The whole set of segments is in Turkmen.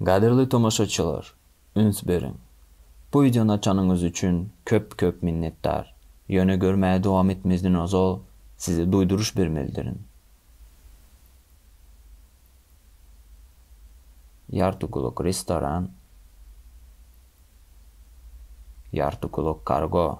Gadyrly tomaşaçylar üns beriň. Bu wideony açanyňyz üçin köp köp minnetdar. Ýöne görmäge dowam etmezden ozal size duýduryş bermelidirin. Ýarty gulak restoran Ýarty gulak kargo.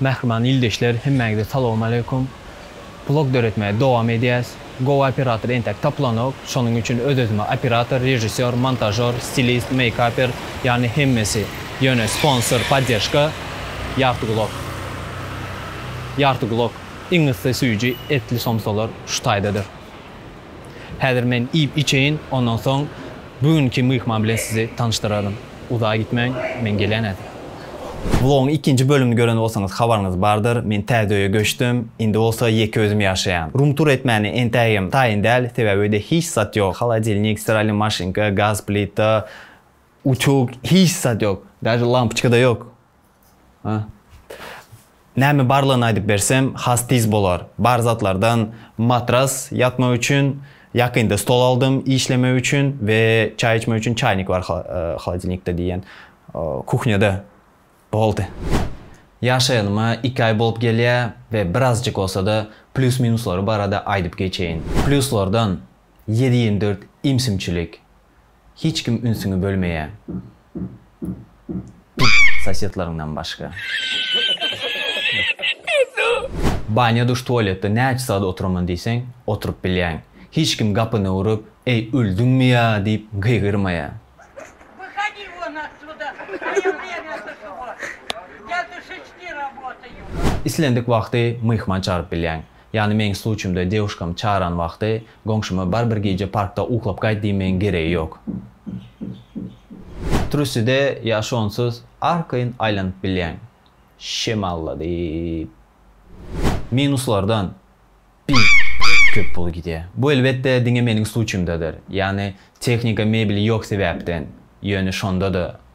Mähriban ildeşler hemmäňize salowmaleýkum. Blog döretmäge dowam edýäs. Gowy operator entäk tapylanok. Şonuň üçin öz-özüme operator, režissýor, montažýor, stilist, meýkaper, ýagny hemmesi. Ýöne sponsor, podderžka, Ýarty gulak. Ýarty gulak, iň yssy süýji, etli somsalar şu taýdadyr. Häzir men iýip-içeýin, ondan soň bu günki myhman bilen sizi tanyşdyraryn. Uzaga gitmäň, men gelýän häzir. Blogyň ikinji bölümini gören bolsaňyz habaryňyz bardyr, men täze öýe göçdüm, indi bolsa ýeke özüm ýaşaýan. Rumtur etmäni entägem taýyn däl, sebäbi öýde hiç zat ýok, holodilnik, stiralyny maşynka, gaz plita, utyug, hiç zat ýok, daže lampoçka-da ýok. Näme barlygyny aýdyp bersem has tiz bolar. Bar zatlardan matras ýatmak üçin, ýakynda stol aldym işlemek üçin we çaý içmek üçin çaýnik bar holodilnikde diýýän kuhnýada. Boldy. Ýaşaýanyma iki aý bolup gelýä we birazjyk bolsada plýus minuslar barada aýdyp geçeýin. Plýuslardan ýedi ýigrimi dört imsimçilik. Hiç kim ünsüňi bölmeýä. Pidar sosedleriňden başga. Banýa duş tualetde näçe sagat oturaman diýseň oturyp bilýäň. Hiç kim gapyny urup, Eý öldüňmi ýa diýip gygyrmaýa. Wyhodi won otsuda, moýe wremýa duşy won. Ýa duşy çti roboty ýok. Islendik wagty myhman çagyryp bilýäň. Ýagny meň sluçýymda dewuşkam çaran wagty goňşyma bar bir gije parkda uklap gaýt diýmegiň geregi ýok. Truside ýa şonsuz arkaýyn aýlanyp bilýäň. Şemalla diýip. Minuslardan biderek köp pul gidýär. Bu elbetde diňe meniň sluçýymdadyr. Ýagny tehnika mebeli ýok sebäpden. Ýöne şonda-da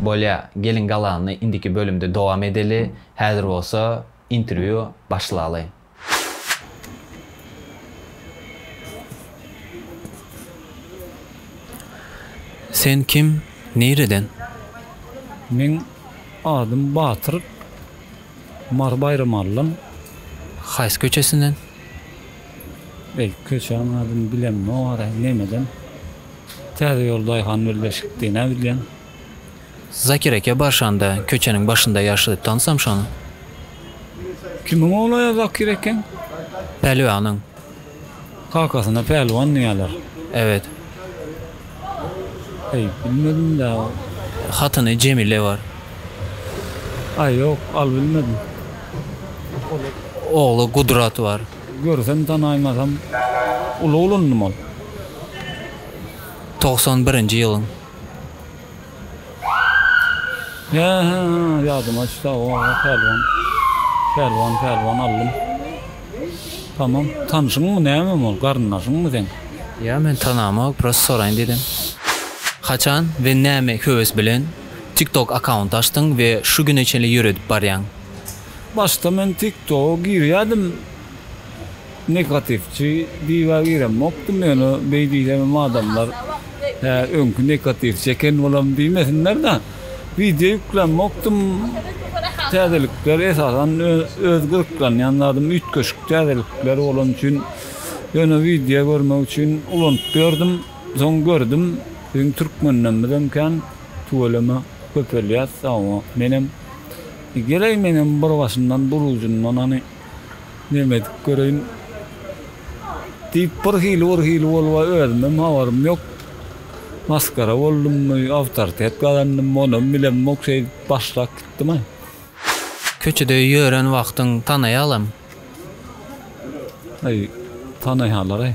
Bolýa, geliň galany indiki bölümde dowam edeli, häzir bolsa interwýu başlaly. Sen kim, nireden? Meň adym Batyr. Mary Baýramallym. Haýsy köçesinden? Belki köçäň adyny bilemok ara nemeden Täze ýol daýhan birleşikdi näbilýän. Zakir eke barşanda köçäniň başynda ýaşady tansam şony. Kimiň oglaýa Zakir ekeň? Pälwanyň. Kakasyna pälwan diýýäler. Ebet. Eý, bilmedim ýa. Hatyny Jemile bar. Aý, ýok, al bilmedim. Ogly Gudrat bar. Görsem tanaýmasam, uly ulundym ol. Togsan birinji ýylyň. Ýadyma düşdi aw Pälwan. Pälwan Pälwan allym. Tamam. Tanşyňmy nämemi ol? Garyndaşyňmy seň? Ýa men tanamok prosta soraýyn dedim. Haçan we näme höwes bilen TikTok akaunt açdyň we şu güne çenli ýöredip barýaň? Başda men TikToga girýädim. Negatiwçi diýibä giremokdym ýöne beý diýsemem adamlar hä öňki negatiwçi eken olam diýmesinlerde wideo ýüklämokdym täzelikler esasan öz gyzyklanýan zadym üýtgeşik täzelikler bolany üçin ýöne wideo görmek üçin ulanyp ýördüm soň gördüm biziň türkmenlemizem kän tüweleme köpelýär sag bol menem geleý menem bir başyndan bir ujundan hany. Neme edip göreýin? diýip, bir hili-bir hili bolup, özümem habarym ýok. Masgara boldummy, awtoritet gazandymmy, onam bilemok, şeýdip başlap gitdim-ä. Köçede ýören wagtyň tanaýalam? Aý, tanaýalar-aý.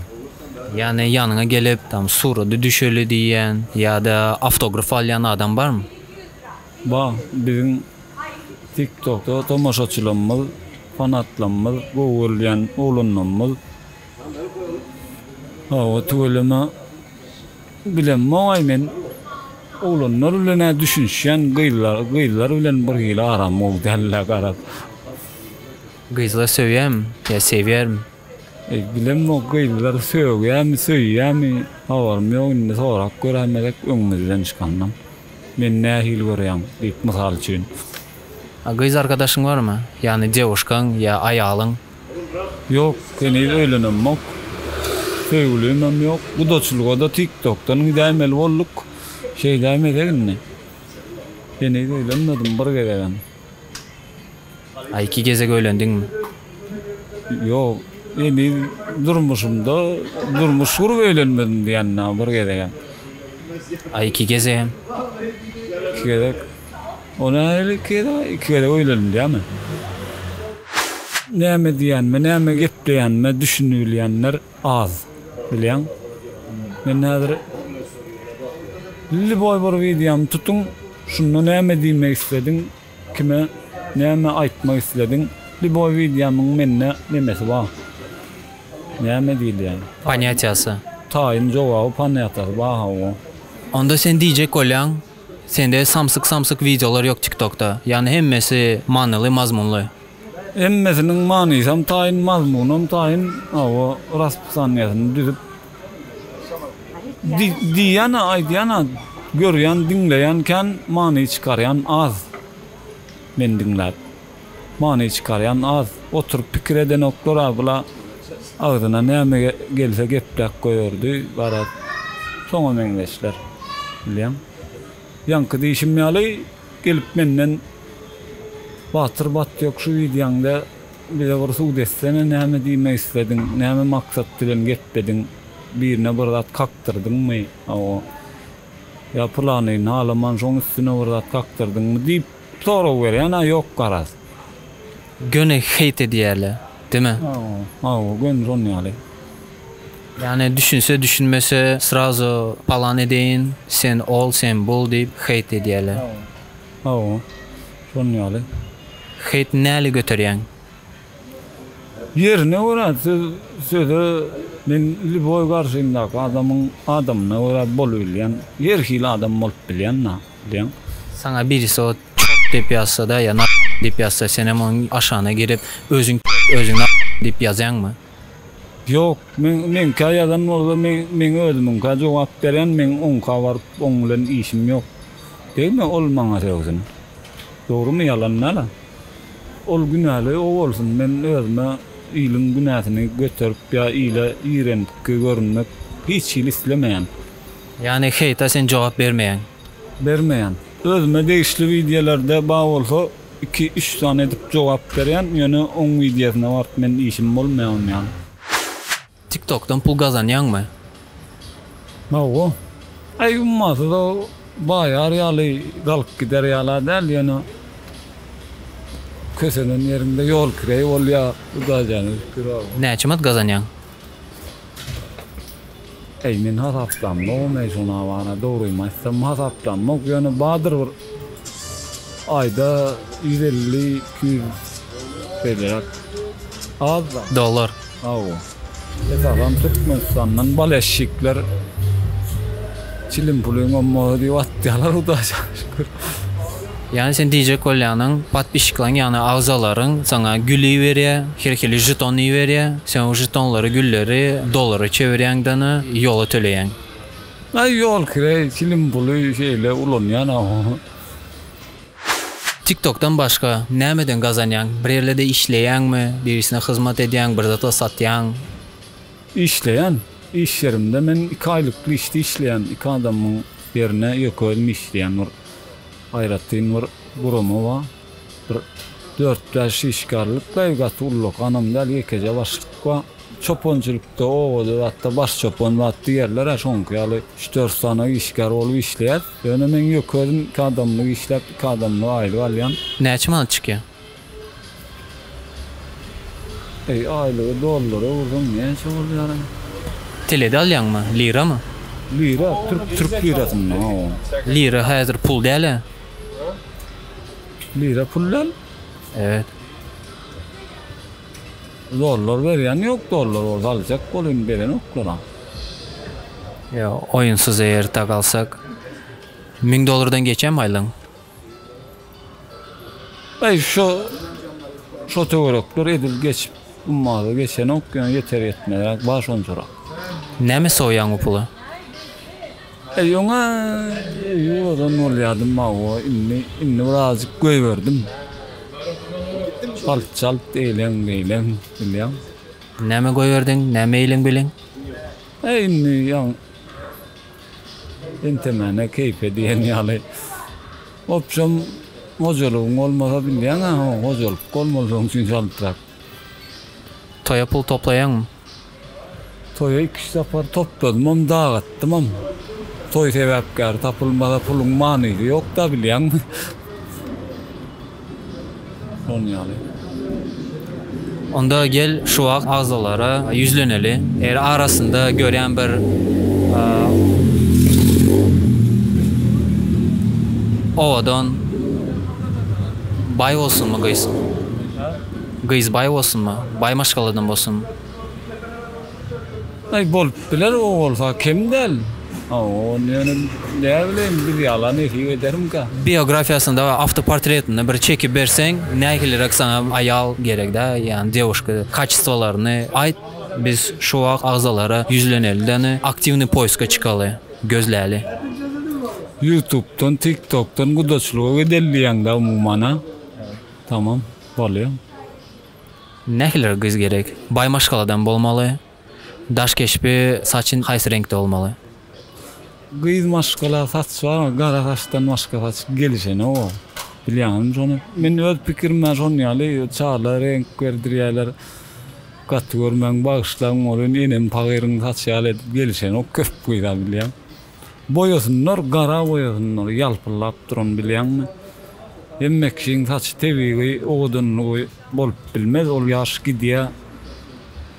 Ýagny ýanyňa gelip, tam surata düşeli diýýän ýa-da awtograf alýan adam barmy? Bar, biziň TikTokda tomaşaçylarymyz, fanatlarymyz, gowy görülýän oglanlarymyz. Hawa, tüweleme bilemok-aý men. Oglanlar bilen-ä düşünişýän, gyzlar, gyzlar bilen birhili aram gowy däl-ä garaz. Gyzlar söýýärmi ýa sebýärmi? Bilem bu gyzlar sögýämi söýýämi habarym ýok indi sorap göräýme dek öňümizden çykandan men nähili görýäň diýip mysal üçin. A gyz arkadaşyň barmy ýagny dewuşkaň ýa aýalyň. Ýok heniz öýlenemok söýgülimem ýok gudaçylygada tik tokdan gidäýmeli bolduk şeýdäýmesek indi heniz öýlenmedim bir gezegem. A iki gezek öýlendiňmi? Ýok. Indi durmuşymda durmuş gurup öýlenmedim diýýän dagy bir gezegem. A iki gezegem? Iki gezek. O nähili iki gezeg? Iki gezek öýlendim diýýämi? Näme diýýänime, näme gepleýänime düşünibilýänler. Az. Bilýäň, men häzir lýuboý bir wideomy tutuň, şunda näme diýmek islediň, kime näme aýtmak islediň, lýuboý wideomyň mende nemesi bar, näme diýilýär? Panýatiýasy. Taýyn jogaby panýatiýasy bar hawa. Onda sen diýjek bolýaň, sende samsyk-samsyk wideolar ýok TikTokda, ýagny hemmesi manyly, mazmunly. Hemmesiniň manysam taýyn, mazmunam taýyn, hawa, raspysaniýasyny düzüp, diýýän-ä, aýdýan-ä, görýän, diňleýän kän, many çykarýan az. Men diňläp, many çykarýan az. Oturyp pikir edenoklar-a bula, agzyna näme gelse gepläp goýardy, garaz, şoňa meňzeşler. Bilýäň? Ýaňky diýşim ýaly. Gelip menden Batyr Batýok şu wideoňda bize bir sud etsene näme diýmek islediň näme maksat bilen geplediň birine bir zat kakdyrdyňmy hawa ýa pylany halaman şoň üstüne bir zat kakdyrdyňmy diýip sorag berýän a ýok garaz. göni hate edýärle deme. Hawa göni şon ýaly. Ýani düşünse düşünmese srazo palan edeýin sen ol sen bul diýip hate edýärle. Hawa şon ýaly. Hate näli göterýäň. Ýerine görä siz söze men liboý garşymdaky adamyň adamyna görä bolubilýän her hili adam bolup bilýän da bilýän. Saňa birisi ot. Çort diýip ýazsa-da ýa narkoman diýip ýazsa, senem onuň aşagyna girip, özüň çort, özüň narkoman diýip ýazýaňmy? Ýok, men meňkä ýazan bolsa, men meň özümiňkä jogap berýän, meň oňka baryp, oň bilen işim ýok. Degme ol maňa sögsin. Dogrumy ýalanyna-la? Ol günäli o bolsun, men özüme iliň günäsini göterip ýa ile iýrenpki görünmek hiç hili islemeýän. Ýagny, heýta sen jogap bermeýäň? bermeýän. Özüme degişli wideolarda bar bolsa iki üç sany edip jogap berýän ýöne oň wideosyna baryp men işim bolmaýar onuň ýaly. Tiktokdan pul gazanýaňmy? Hawa. Aý ummasyza baýar ýaly galyp gider ýala däl ýöne kösenen ýeriňde ýol kireý bolýar bu daýjany ötüp ýör. Näçe manat gazanýaň? Eý men hasaplanmagam eý şuna bana dogrymy aýtsam hasaplanmak ýöne badyr bir aýda ýüz elli iki ýüz beýleräk azda. Dollar. Hawa. Esasan Türkmenistandan baleşşikler çilim pulyň ommagy diýip atýalar hudaýa şükür. Ýani sen diýjek bolýanyň podpişiklaň ýagny agzalaryň saňa gül iberýä, her hili žeton iberýä, sen o žetonlary gülleri dollara çevirýäň dana ýola töleýäň. Aý ýol kire çilim puly şeýle ulanýan aw. Tiktokdan başga nämeden gazanýaň bir ýerlede işleýäňmi birisine hyzmat edýäň bir zat satýaň. Işleýän iş ýerimde men iki aýlyk işde işleýän iki adamyň ýerine ýeke özüm işleýän bir aýratyn bir gurama bar. Bir dört-bäş işgärlik we gaty uly ganam däl ýekeje başlyk bar. Çopançylykda, obada zatda baş çopan zatly ýerler-ä şoňky ýaly üç-dört sany işgär bolup işleýäs. Ýöne men ýeke özüm iki adamlyk işläp, iki adamlyk aýlyk alýan. Näçe manat çykýar? Eý aýlygy dollara ursaň näçe bolýara. Telede alýaňmy? Liramy? Lira türk türk lirasynda hawa. Lira häzir pul dälä. Lira pul däl. Evet. Dollar berýän ýok dollar bolsa aljak bol indi berenoklar a. Ýa oýunsyz eýer tak alsak. Müň dollardan geçýämi aýlygyň? Aý şo şo töwerekler edil geçip ummaza geçenok ýöne ýeter ýetmezräk bar şonçarak. Näme sowýaň bu pula? Aý ýöne ýuwadan bolýadym mawo indi indi bir azjyk göýberdim. Çalt çalt eýleň beýleň bilýäň. Näme göýberdiň näme eýleň beýleň? Aý indi ýa. Entemene keýpe diýen ýaly. Opjom hojalygyň bolmasa bilýäň-ä ho hojalyk bolmalydygyň üçin çaltrak. Toýa pul toplaýaňmy? Toýa iki-üç sapar topladymam, dagatdymam. Toý sebäpkäri tapylmasa puluň manysy ýok-da bilýäňmi. Onda gel şu wagt agzalara ýüzleneli. Eger arasynda görýän bir owadan baý bolsunmy gyz? Gyz baý bolsunmy? Baý maşgaladan bolsunmy? Aý bolup biler o bolsa kem däl. Ony ýöne näbileýin biz ýalan nesip edermika. Biografiýasynda we awtoportretinde bir çekip berseň nähiliräk saňa aýal gerekdä ýani dewuşka kaçestwolaryny aýt biz şu wagt agzalara ýüzleneli däne aktiwny poýska çykaly gözläli. Ýutubdan tiktokdan gudaçylyga gideli diýeňdä umumana tamam bolýa. Nähiliräk gyz gerek? Baý maşgaladan bolmaly. Daş keşbi, saçy haýsy reňkde bolmaly? Gyz maşgala saç barmy? Gara saçdan başga saç gelişenok ow. Bilýäňizmi şony? Men öz pikirimden şon ýaly çala reňk berdirýäler. Gaty görmäň, bagyşlaň bolýn, enem pagyryň saçy ýaly edip gelişenok köp gyza bilýän. Boýasynlar gara boýasynlar ýalpyldap duran bilýäňmi. Hemme kişiň saçy tebigy owadanlygy bolup bilmez ol ýaş gidýä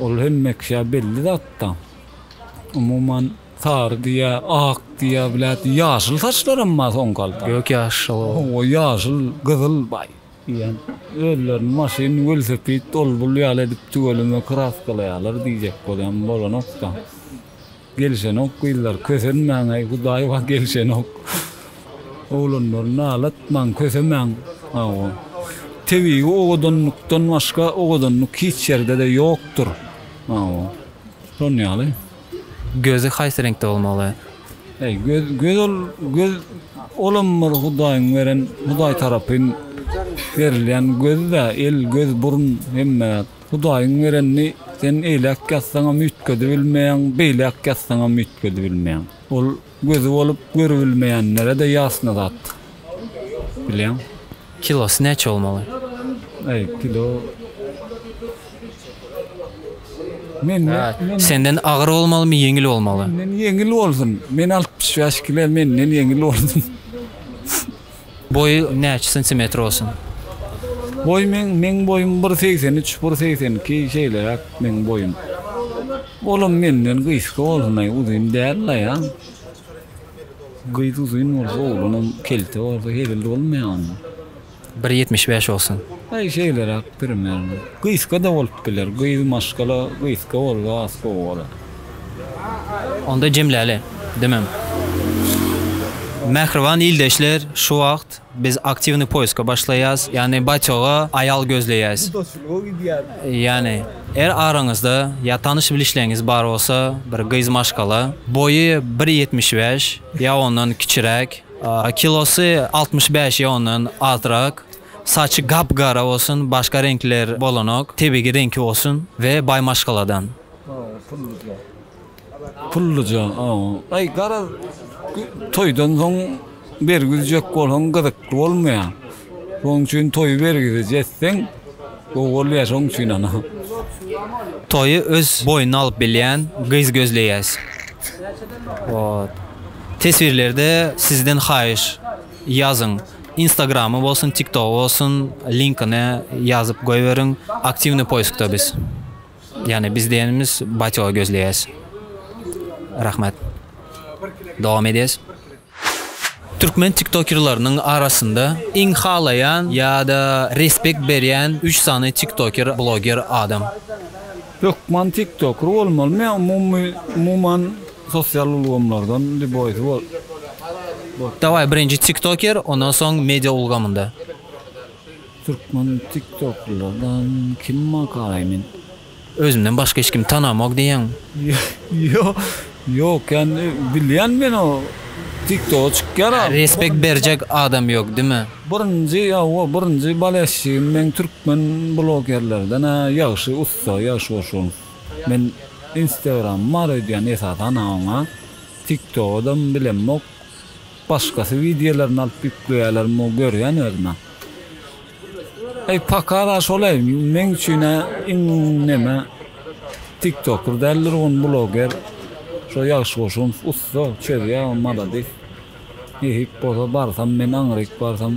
ol hemme kişä belli zatda. Umuman sary diýä ak diýä bilet ýaşyl saçlaram bar soňky halda. Gök ýaş hawa ýaşyl gyzyl baý diýen özlerini maşyn welosiped ol bul ýaly edip tüweleme kraskalaýalar diýjek bolýan bolanokda. Gelişenok gyzlar kösenmäňeý hudaý bar gelişenok oglanlar nalatmaň kösemäň hawa tebigy owadanlykdan başga owadanlyk hiç ýerdede ýokdur hawa şon ýaly. Gözi haýsy reňkde bolmaly. Eý göz göz ol göz olam bir hudaýyň beren hudaý tarapyn berilýän göz dä el göz burun hemme zat. Hudaýyň berenini sen eýläk ýazsaňam üýtgedibilmeýäň, beýläk ýazsaňam üýtgedibilmeýäň. Ol gözi bolup görübilmeýänlere-de ýasna zat. Bilýäň. Kilosy näçe bolmaly? Äý, kilo. Menden. Senden agyr bolmalymy, ýeňil bolmaly? Menden ýeňil bolsun. Men altmyş bäş kile, menden ýeňil bolsun. Boýy näçe santimetr bolsun? Boý meň meň boýum bir segsen üç bir segsen iki şeýleräk meň boýum olam menden gysga bolsunaý uzyn däl la ýa gyz uzyn bolsa oglanam kelte bolsa hezil bolmaýa onda. Bir ýetmiş bäş bolsun. Aý şeýleräk primerno gysga da bolup biler gyz maşgala gysga bolsa az sowalar. Onda jemläli, demem. Mähriban ildeşler, şu wagt biz aktiwnyý poýska başlaýas, ýagny batýoga aýal gözleýäs. Ýagny, er araňyzda ýa tanyş bilişleňiz bar bolsa, bir gyz maşgala, boýy bir ýetmiş bäş ýa ondan kiçiräk, kilosy altmyş bäş ýa ondan azrak, saçy gap-gara bolsun, başga reňkler bolanok, tebigi reňki bolsun we baý maşgaladan. Pulluja. Pulluja. Aý garaz toýdan soň bergi üzjek bolsaň gyzykly bolmaýar. Şonuň üçin toýy bergisiz etseň gowy bolýar şonuň üçin ana. Toýy öz boýnuna alyp bilýän gyz gözleýäs. Wot. Teswirlerde sizden haýyş ýazyň. Instagramy bolsun, tiktogy bolsun, linkini ýazyp goýberiň. Aktiwnyý poýskda biz. Ýani biz diýenimiz batýogy gözleýäs. Rahmet. Dowam edýäs. Türkmen tiktokerleriniň arasynda iň halaýan ýa-da respekt berýän üç sany tiktoker bloger adam. Hökman tiktoker bolmalymy ýa umumy umuman sosial ulgamlardan liboýsy bol. Dawaý birinji tiktoker ondan soň media ulgamynda. Türkmen tiktoklylardan kim bar garaý men. Özümden başga hiç kimi tanamok diýýäň. Ýok ýok ýani bilýän men o tiktoga çykýar a. Respekt berjek adam ýok dime. Birinji hawa birinji balesjigim meň türkmen blogerlerden a ýagşy ussa ýagşy goşun. Men instagramym bar öýdýän esasan a oňa. Tiktogadam bilemok. Başgasy wideolaryny alyp ýükleýäler muny görýän özüm-ä. Eý pakar-a şolaý meň üçin-ä iň neme tiktoker däldir gun bloger şo Ýagşy Goşunow ussa çözýä maladis nesip bolsa barsam men aňryk barsam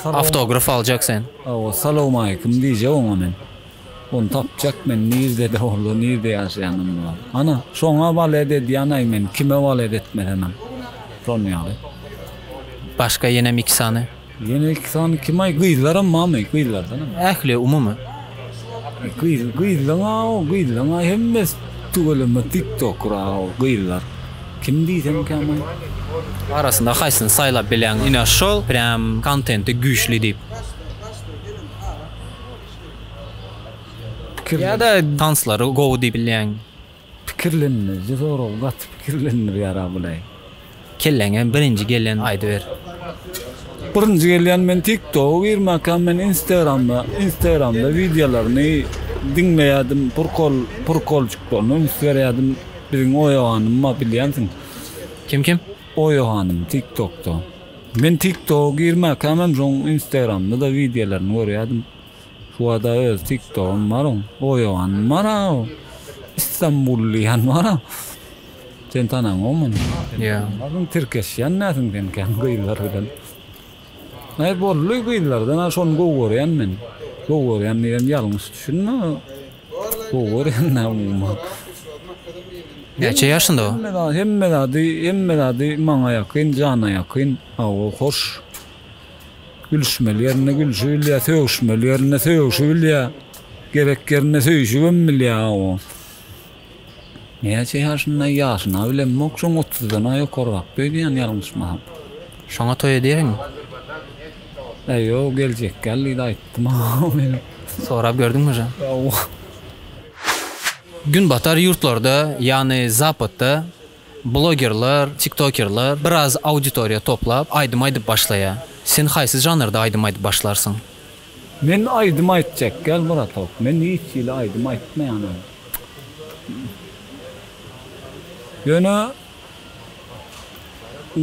Awtograf aljak sen. Hawa salowmaleýkim diýjek oňa men. Ony tapjak men nirde-de bolsa, nirde ýaşaýanam bol. Ana, şoňa walet edýän-aý men, kime walet etmesenem. Şon ýaly. Başga ýenem iki sany? Ýene iki sany kim-aý, gyzlaram barmy, gyzlardanam? Ähli, umumy. Gyz, gyzlaň-a-o, gyzlaň-a hemmesi tüweleme tiktokera-o, gyzlar. Kim diýsemkäm-aý? Arasynda haýsyny saýlap bilýäň, ine şol, prýam kontenti güýçli diýip? Ýa-da tanslary gowy diýip bilýäňmi? Pikirlenmezçe sorag gaty pikirlendir ýara bulaý. Kelläňe birinji gelýän aýdyber. Birinji gelýän men tik toga girmäkäm men instagramda instagramda wideolaryny diňleýädim prkol prkolçyklaryny üns berýädim biziň oýa hanym bar bilýänsiň. Kim kim? Oýa hanym tik tokda. Men tik toga girmäkämem şoň instagramda-da wideolaryny görýädim. Şuada öz tik togam bar oň. Oýogan bar a o. Istanbul diýen bar a. Sen tanaň oň men. Ýa. Onuň tirkeşýän näsiň sen kän gyzlar bilen. Naý boldy gyzlardan a şony gowy görýän men. Gowy görýän diýen ýalňyş düşünme. Gowy görýän da umuman. Näçe ýaşynda o? Hemme zady hemme zady hemme zady maňa ýakyn jana ýakyn hawa hoş gülüşmeli ýerinde gülüşi bilýä sögüşmeli ýerinde sögüşi bilýä gerek ýerinde söýüşibem bilýä hawa näçe ýaşynda ýaşyna bilemok şoň otuzdan a ýokarrak öýdýän ýalňyşmasam. Şoňa toý edýäňmi? Eý ýok geljek gal diýdi aýtdym o meniň. Sorap gördüňmi jan. Ýok. Günbatar ýurtlarda ýagny zapatda blogerler, tiktokerler biraz auditoriýa toplap aýdym aýdyp başlaýa. Sen haýsy žanrda aýdym aýdyp başlarsyň? Men aýdym aýtjak gal bratok men hiç hili aýdym aýtmaýanam. Ýöne.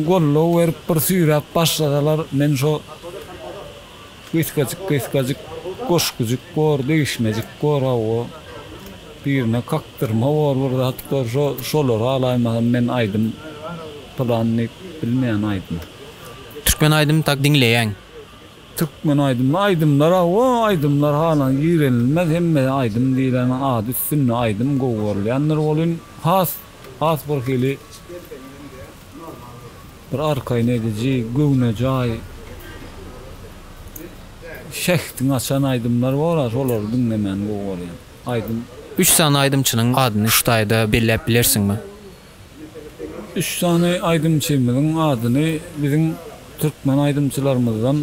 goldaw berip bir süýräp başlasalar men şo gysgajyk gysgajyk goşgujyk bor degişmejik bor hawa birine kakdyrma bor bir zat bor şo şolary alaýmasam men aýdym pylan diýip bilmeýän aýdym. Türkmen aýdym tak diňleýäň. Türkmen aýdymy aýdymlar hawa aýdymlar halan girenilmez hemmesi aýdym diýileniň ady üstünde aýdym gowy görülýändir welin has Has bir hili bir arkaýyn ediji, göwnejaý, şähdiňi açan aýdymlar bar-a, şolary diňlemäni gowy görýän. Aýdym. Üç sany aýdymçynyň adyny şu taýda belläp bilersiňmi? Üç sany aýdymçymyzyň adyny biziň türkmen aýdymçylarymyzdan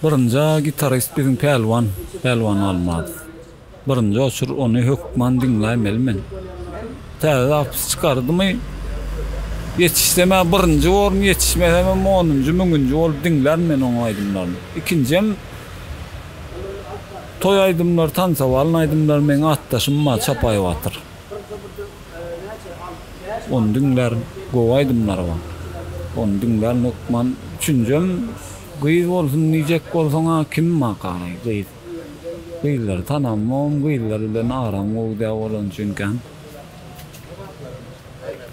birinji-a gitarist biziň Pälwan, Pälwan Almaz. Birinji oçur ony hökman diňläýmeli men. Täze zapis çykardymy, ýetişsem ä birinji orun, ýetişmesemem onunjy, müňünji bolup diňlän men onuň aýdymlaryny. Ikinjem toý aýdymlary, tansowalyň aýdymlary meň atdaşym bar Çapaý Batyr. Ony diňlärin. Gowy aýdymlary bar. Ony diňlärin hökman. Üçünjem gyz bolsun diýjek bolsaň ä kim bar garaý gyz. Gyzlary tanamam, gyzlar bilen aram gowy däl bolany üçinkäm.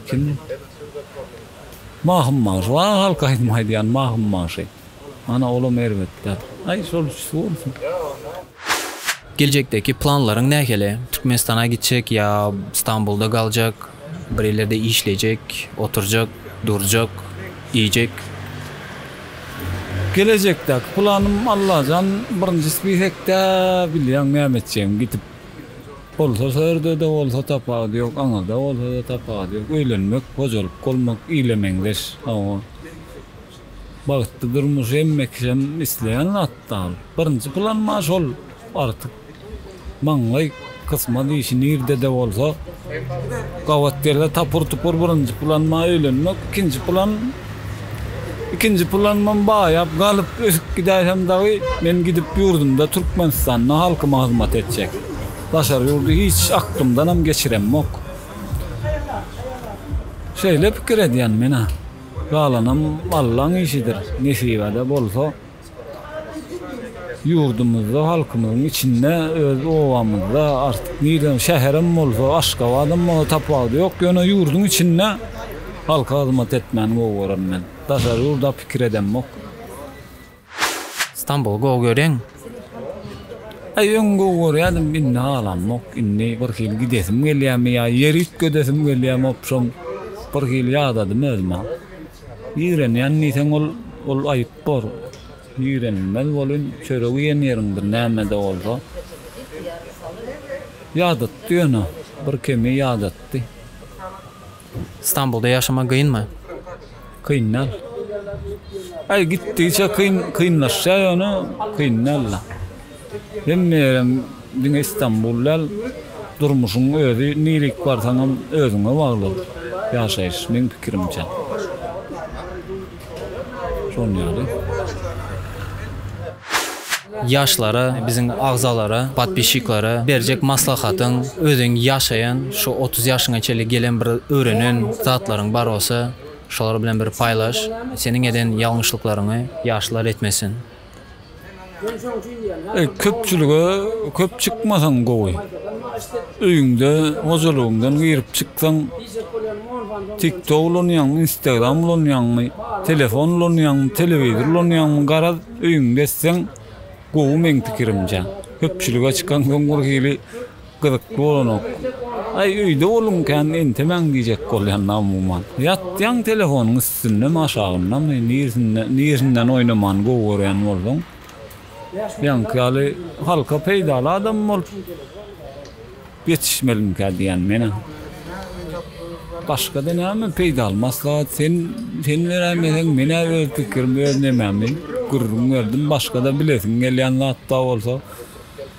Kim? Mahym bagşy, wa halk aýdym aýdýan Mahym bagşy. Ana olam erbet däl. Aý şol üçüsi bolsun. Geljekdäki planlaryň nähili? Türkmenistana gitjek ýa Stambulda galjak, bir ýerlerde işlejek, oturjak, durjak, iýjek? Gelejekdäki planym Allajan birinji spisekde bilýäň näme etjegimi gidip bolsa şo ýerdede bolsa tapawudy ýok aňyrda bolsada tapawudy ýok öýlenmek hojalyk bolmak ile meňzeş hawa bagtly durmuş hemmekişem isleýän zatda birinji planym a şol artyk Maňlaý kysmaz işi nirdede bolsa gabat gele tapyr tupur birinji planyma öýlenmek ikinji plan ikinji planymam baýap galyp ösüp gidäýsem dagy men gidip ýurdumda Türkmenistanda halkyma hyzmat etjek daşary ýurdy hiç aklymdanam geçiremok şeýle pikir edýän menä galanam Allaň işidir nesibede bolsa. Ýurdumyzda, halkymyzyň içinde, öz obamyzda, artyk nirem, şäherem bolsa, Aşgabadam bolsa tapawudy ýok. Ýöne ýurduň içinde halka hyzmat etmäni gowy görem men. Daşary ýurda pikir edemok. Stambuly gowy görýäňmi? Aý, öň gowy görýärdim, indi halamok. Indi birhili gidesim gelýärmi ýa ýer üýtgedesim gelýärmi, opşam, birhili ýadadym özüm-ä. Ýigrenýän diýseň ol ol aýyp bor. Ýigrenilmez welin çörek iýen ýeriň bir nämede bolsa ýadatdy ýöne bir kemi ýadatdy. Stambulda ýaşamak gynmy? Kyn däl. Aý gitdigiçe kyn kynlaşýar ýöne kyn däl-le. Hemme ýerem diňe Istanbul däl. Durmuşyň özi nirik barsaňam özüňe bagly ýaşaýyş meň pikirimçe. Şon ýaly. Ýaşlara biziň agzalara podpisçiklara berjek maslahatyň özüň ýaşaýan şu otuz ýaşyňa çenli gelen bir öwrenen zatlaryň bar bolsa şolar bilen bir paýlaş seniň eden ýalňyşlyklaryňy ýaşlar etmesin. Köpçülige köp çykmasaň gowy. Öýüňde, hojalygyňdan girip çyksaň, TikTok ulanýaňmy, Instagram ulanýaňmy, telefon ulanýaňmy, telewizor ulanýaňmy, garaz, öýüňde etseň gowy meň pikirimçe. Köpçülige çykaňsoň birhili Gyzykly bolanok. Aý öýde boluň kän entemäň diýjek bolýan amuman. Ýatýaň telefonyň üstündemi aşagyndamy nirsinde nirsinden oýnamany gowy görýän bolduň. Ýaňky ýaly halka peýdaly adam bolup ýetişmelimikä diýýän menä. Başgada näme peýdaly maslahat sen sen beräýmeseň menä öz pikirim öz nemämi gürrüň berdim başgada bilesiň gelýän zatda bolsa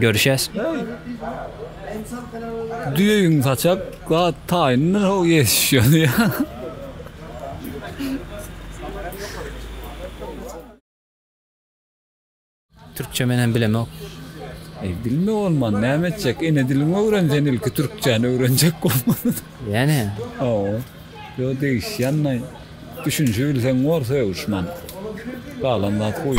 Görüşýäs. Düýeýiň saçak zat taýyndyr how ýetişýär. Türkçe men hem bilemok. Eý bilme bolman näme etjek ene diliňi öwren sen ilki türkçäni öwrenjek bolman. Ýene. Hawa. Ýo degişýännaý. Düşünişi bilseň bor sögüşman. Galan zat goý.